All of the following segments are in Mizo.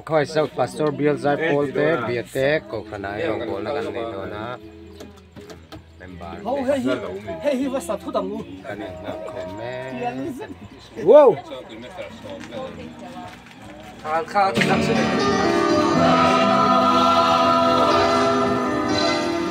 Khawi zauh pastor Bialzai Paul te Biate Kohhran ah erawh bawlna kan nei dawn a, member te kan inhna khawm em.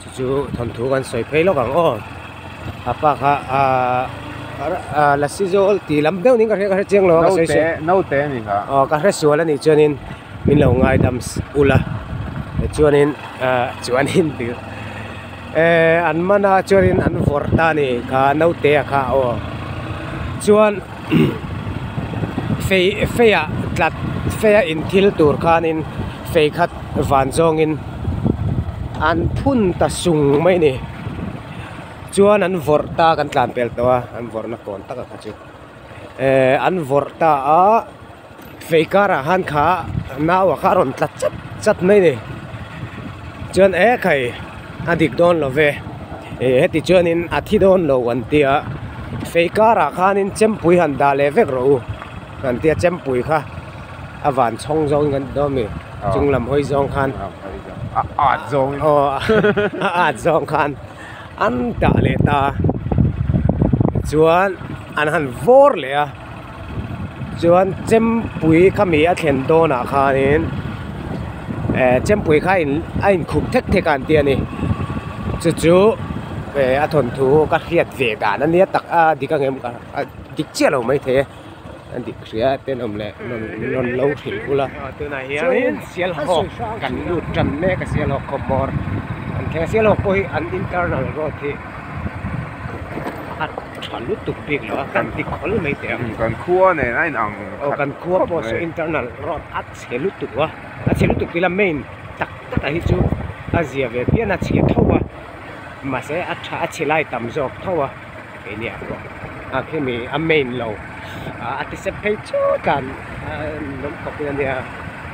Chu chu thawnthu kan sawi phei lawk ang aw. A pa kha ahh lasi zawl ti lam deuh niin ka hre ka hre chiang lo a. Naute naute a ni kha. Aw ka hre sual a nih chuanin min lo ngaidam ulh a. Tichuanin ahh chuanin tih ehh an mana chuanin an vawr ta a ni kha nautea kha aw. Chuan. fei feia tlat feia in thil tur khanin fei khat van zawngin an phun ta sung mai ni chuan an vawrh ta kan tlan tel tawh a an vawrhna kawn taka kha chu ehh an vawrh ta a. fei karah han kha nauah kha a rawn tlat chat chat mai a ni chuan e kai a dik dawn lo ve e heti chuanin a thi dawn lo an tia fei karah khanin chempui han dah leh vek ro u kan tia chempui kha a van chhawng zawng in kan ti dawn a ni chung lam hawi zawng khan a at zawng in aw a at zawng khan an dah leh ta chuan an han vawr leh a. chuan chempui khami a thlen dawnah khanin ehh chempui kha in a in khup thek thek a an tia ni chu chu ehh a thawnthu ka hriat ve dan a nia tak a dik angemawh ka a dik chiah lo mai thei a a dik hriat te nawm leh nawm rawn lo hrilh bul a tunah hian sialhawk kan lut tan mek a sialhawk khawpawr an thlen a sialhawk pawh hi an internal road hi-- khat tha lutuk bik lo a kan ti khawl mai teh a hmm kan khua nen a inang aw kan khua pawh saw internal road a chhe lutuk a a chhe lutuk ila main tak tak ah hi chu a zia ve fian a chhe tho a mahse a tha a chhe lai tam zawk tho a keini ah pawh a khemi a main lo a ti sep phei chu tlan a nawm khawp ila nia.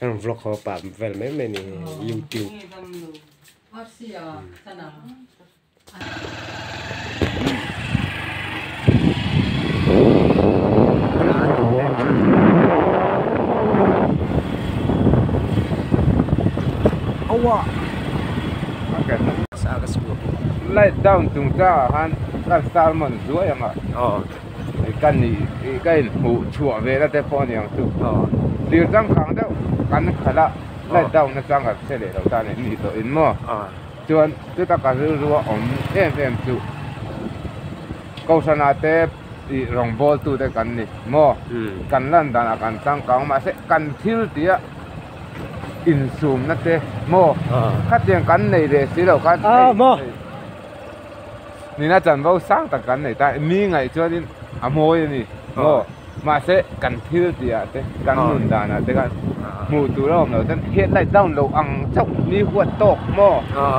Heng vlog ho pah vel mai mai ni youtube. Awa. Okay. Sa ka school. Light down tung ta han ka salmon zuai ang a. Oh. ka nih i ka in hmuh chhuah ve na te pawh a niang chu zir changkang deuh kan khalh a let down na chuan kan hre leh lo ta nen ni tawh in maw chuan chuta ka rilru a awm em em chu kohhran ah te ih rawngbâwl tu te kan ni maw kan lan dan ah kan changkang mahse kan thil tih a insum na te maw khatiang kan nei leh si lo khan hei hei. nina chanvo sang tak kan nei ta a, mi ngaih chuanin a mawi a ni maw, mahse kan thil tihah te kan nun danah te khan hmuh tur a awm lo chuan headlight down loh ang chauh mi huat tawk maw,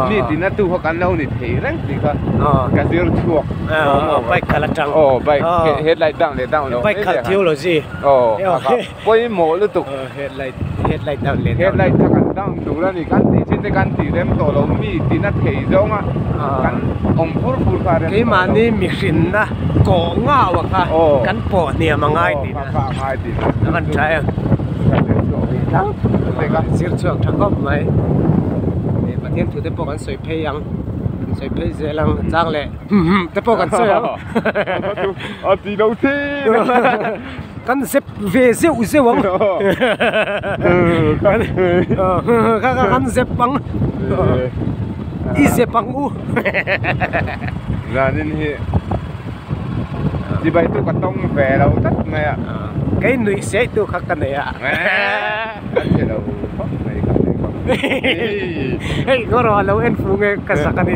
mi tina tu kha kan lo ni thei reng tih kha ka zir chhuak aw bike khalh atang aw bike headlight down leh down loh mai te khan aw. pawimawh lutuk headlight headlight dah leh headlight kha kan dang tur a ni kan tih chin te kan tih rem tawh lo mi tina thei zawng a kan awm fur fur kha rem tawh lo keimahni mihring na kawh ngau a kha kan pawh hniam a ngai tih na ka rawn try a zir chhuak tha khawp mai pathian thu te pawh kan sawi phei ang kan sawi phei zel ang chang leh hum hum te pawh kan sawi ang a ti lo thin. kan zep ve zeuh zeuh ang kan zep ang i zep ang u zanin hi chibai tu ka tawng ve lo tak mai a kei nuih seh tu kha ka nei a ka che lo fak mai ka nei bawk hei ngaw rawh a lo en fung e ka sak a ni.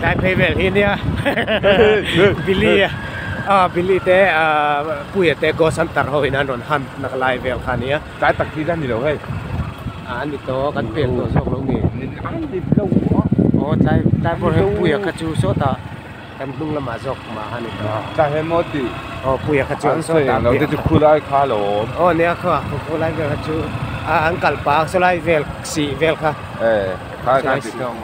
tlai phei vel hi nia bili a a bili te a puia te go santar ho in an rawn han nak lai vel kha nia tlai tak hi dan ni lo hei a an ni to kan pek tawh zawk lo ni nen an ni lo a aw tlai tlai pawh he puia kha chu sawt a kan hnung lamah zawk ma han ni to tlai he maw ti aw puia kha chu an sawi ang lo te chu khu lai kha lo aw nia kha khu lai vel kha chu a an kalpa sawi lai vel si vel kha e kha kan ti thung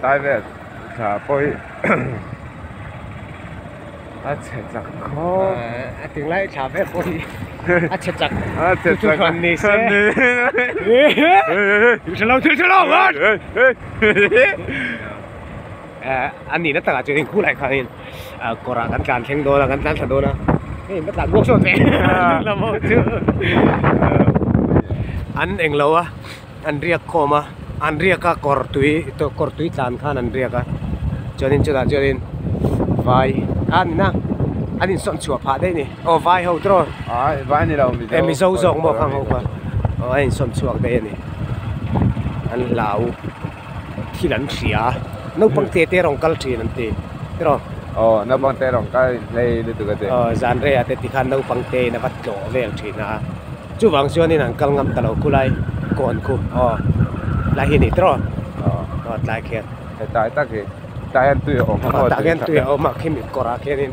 Private thla pawh hi a chhe chak khawp a ti ngai thla vel pawh hi a chhe chak hran ni se thil hrelo thil hrelo an nihna takah chuan in khulai khanin. a kawr ah kan tlan thleng dawn a kan tlan thla dawn a hei va tlan bawk zawk e dik lam ho chu an eng lo a an riak khawm a an riak a kawr tui kawr tui tlan khan an riak a chuanin chutah chuanin vai a ni na an in sawn chhuah phah daih ni aw vai ho trawh ai vai ni lo e mizo zawk maw kha ho kha aw an in sawn chhuak daih a ni an hlau. thil an hria a naupang te te rawn kal thin an ti rawh aw naupang te rawn kal in phei lutuk a ti aw zan reiha te ti khan naupang te in a va tlawh vel thin a chuvang chuan in an kal ngam ta lo khulai lai kawn khu aw tlai hi a nih ta rawh aw tlai khian he tlai tak hi tlai hian tui a awm tah hian tui a awm a khi mitkawrah khian in.